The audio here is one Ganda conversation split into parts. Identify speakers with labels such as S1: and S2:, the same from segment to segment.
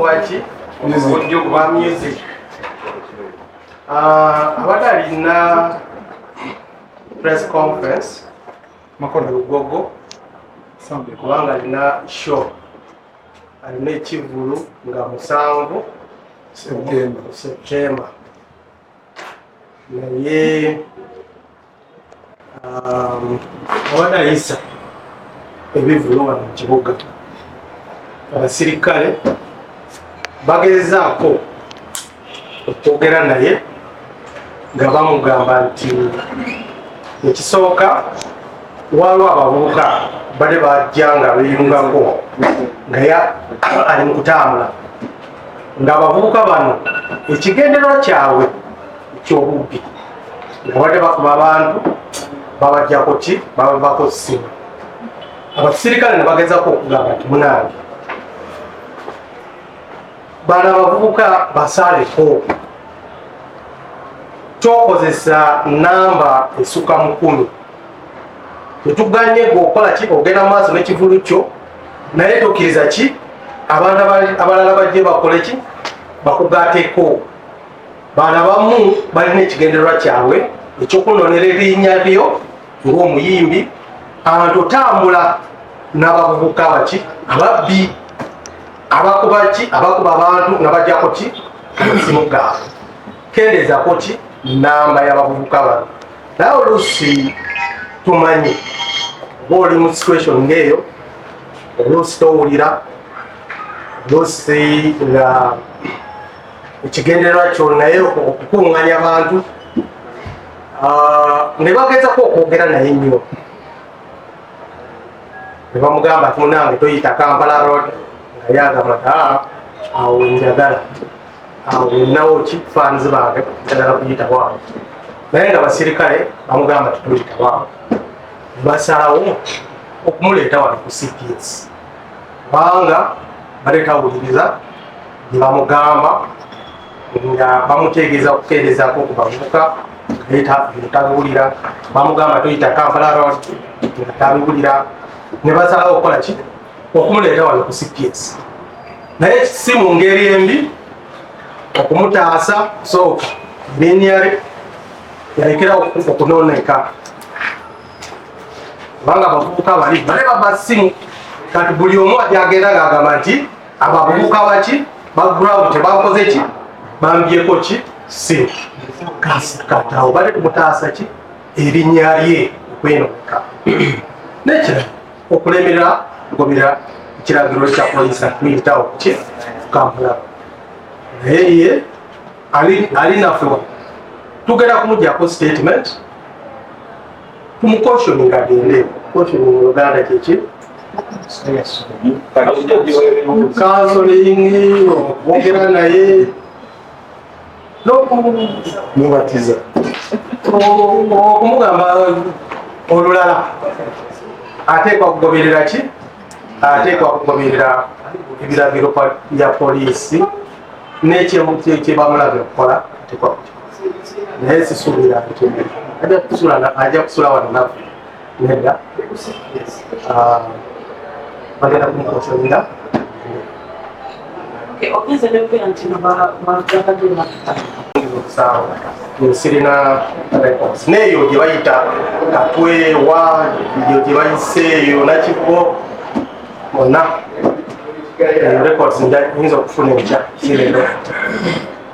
S1: waki obukodyo bwa music ah, abadde alina press conference makono lugogo kubanga alina show alina ekivulu nga musanvu septemba naye abadde ayisa ebivulu wano mu kibuga abasirikale bagezaako okwogera naye nga bamugamba nti ekisooka waliwo abavubuka bade bajja nga beyungako nga ali mu kutambula ng'abavubuka bano ekigenderwa kyabwe ekyobubbi nga badde bakuba abantu babajjako ki babavako simu abasirikale ne bagezako okugamba nti munange bano abavubuka basaaleko tokozesa namba esuka mukulu tetuganye gwe okola ki ogenda mu maaso n'ekivulu kyo naye tokkiriza ki abantu abalala bajje bakole ki bakugateeko Bano abamu balina ekigendererwa kyabwe ekyokunonera erinnya lyo ng'omuyimbi abantu otambula n'abavubuka baki ababbi abakuba ki abakuba abantu nga bajjako ki amasimu gaabwe kendeezako ki namba y'abavubuka bano naye oluusi tumanyi oba oli mu situation ng'eyo oluusi towulira oluusi nga ekigendererwa kyo naye okukuŋŋanya abantu ah, ne bagezako okwogera naye nnyo ne bamugamba ti munange toyita kampala road nga yagamba ti ah, awo njagala awo nawo ki fans bange njagala kuyita waawo naye nga basirikale bamugamba ti toyita waawo basalawo okumuleeta wano ku cps kubanga bade tawuliriza nebamugamba nga bamutegeeza okukeerezako ku bavubuka tabiwulira bamugamba toyita kampala road nga tabiwulira nebasalawo okukola ki okumuleeta wano ku cps naye si mu ngeri embi okumutaasa sooka binyare yalekera okunooneka kubanga abavubuka bali bale baba simu kati buli omu ajagenda ngagamba nti abo abavubuka baki background tebakoze ki bambyeko ki simu katawo bale kumutaasa ki erinya lye okwenoka nekira okulemerera kugobera ekiragiro kya polisi akuyitawo ki kampala naye ye ali ali nafuwa tugenda kumujjako statement tumukoshoni agende koshoni mu luganda kyeki kansolingi okwogera naye nokumubatiza okumugamba olulala ateekwa kugoberera ki ateekwa kugoberera ebiragiro bya poliisi nekyebamulaga okukola ateekwa naye sisuubira ajja kusula wano nafe nedda ah, bagenda kumukosolera sirina records neeyo gye bayita katwewa eyo gye bayiseeyo nakiko mona records nyinza okufuna enkya sirero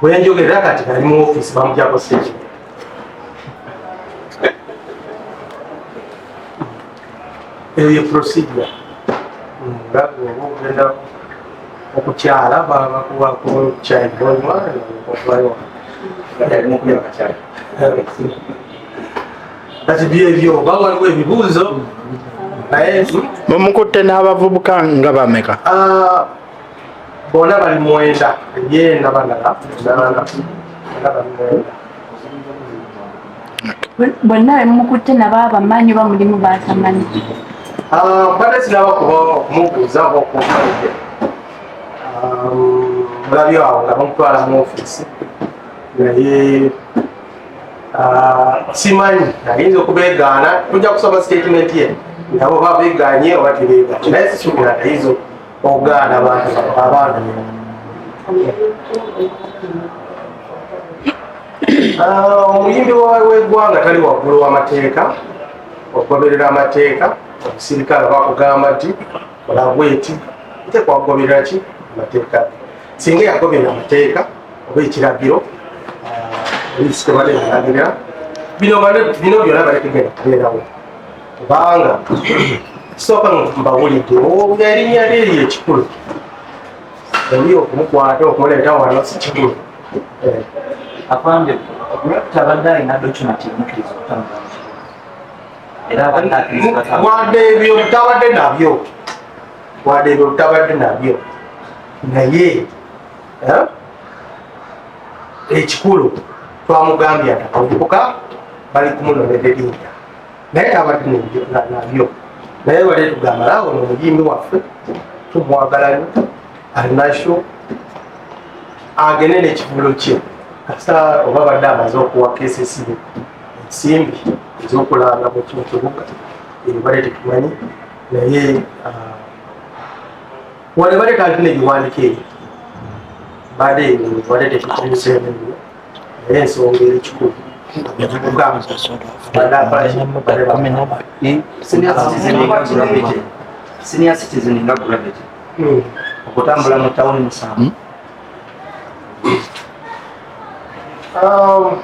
S1: bwenjogerera kati ali mu ofiisi bamujako seki eyo ye procedure nga oba ogenda okukyala babakuwako kyaiboima okuvayo kati byebyo oba waliwo ebibuuzo naye
S2: mumukutte n'abavubuka
S1: nga bameka
S2: ah,
S1: bona bali mwenda ye nabalala nana
S2: bonna bemukutte nabo abamanyi oba mulimu batamanyi ah,
S1: mbadde sinaba kuba mubuuza oba okumaide ah, mulabi awo nga bamutwala mu ofiisi naye ah, simanyi ayinza okubegaana tujja kusoma sitatimenti ye nabo babeganye oba tebeganye naye sisubira ayinza okugaana abaana ah, omuyimbi wegwanga tali waggulu wamateeka okugoberera amateeka omusirikale bakugamba nti olabweti tekwagoberera ki amateeka singa yagoberera amateeka oba ekiragiro ah, ekitebaleragerera bino byona balekegenda kubeerawo kubanga sooka mbawulidde nga erinnya lye lye ekikulu oli okumukwata okumuleeta wano si kikulu eh.
S3: afande okulabita abadde alina dokimenti emukiriza okutambula
S1: era abadde akirizawadde ebyo obutabadde nabyo wadde ebyo obutabadde nabyo naye eh, ekikulu twamugambye atakuvubuka bali kumunonererinda naye nabadde nabyo naye bale tugamba laawo no muyimbi waffe tumwagalayo alinakyo agende nekivulo kye kasita oba badde amaze okuwa kesesibe ensimbi ezokulanga mukimu kibuga ebyo bale tetumanyi naye ah, wale bale talina ebiwandiko ebyo bade bade tekikomisa ebimu naye ensonga eri kikulu senior
S3: citizen nga gravity hmm. okutambula mu tawuni musanvu
S1: hmm? um,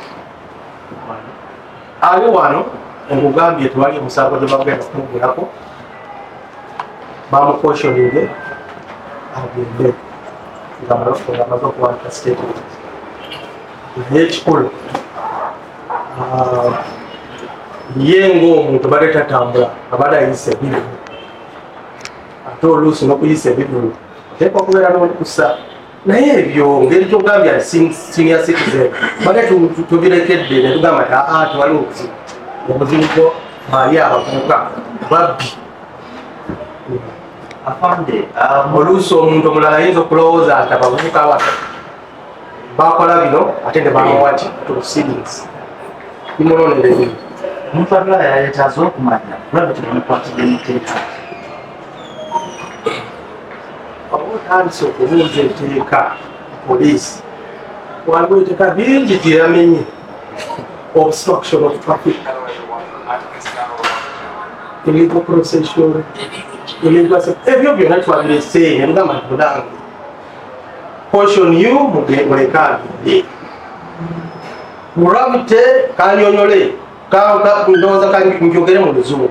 S1: ali wano nkugambye tewali omusango gyebagenda kumugulako bamukoshonire agende nga amaze okuwandika statement naye ekikulu ah, ye ngaomuntu bade tatambula abade ayisa ebivulu ate oluusi nokuyisa ebivulu teeka okubeera nokusa naye ebyo ngeri kyogambya senior citizen bane tubirekedde netugamba ti aa ah, tewali obuzibu obuzibu bwo mali abavubuka babbi
S3: afande um, oluusi omuntu
S1: omulala ayinza okulowooza nti abavubuka abata bakola bino ate ne bamawati tusiris imulonere bino omuntu abula
S3: yayetaza okumanya kulaba kino mukwatidde muteeka
S1: oba otandise okubuuza enteeka poliisi waliwo enteeka bingi gyeyamenye obstruction of traffic illegal procession ebyo byona twabiresee nebugamba nti mudange portion you mulekaabye gravity kanyonyole ndowooza kanjogere mu luzungu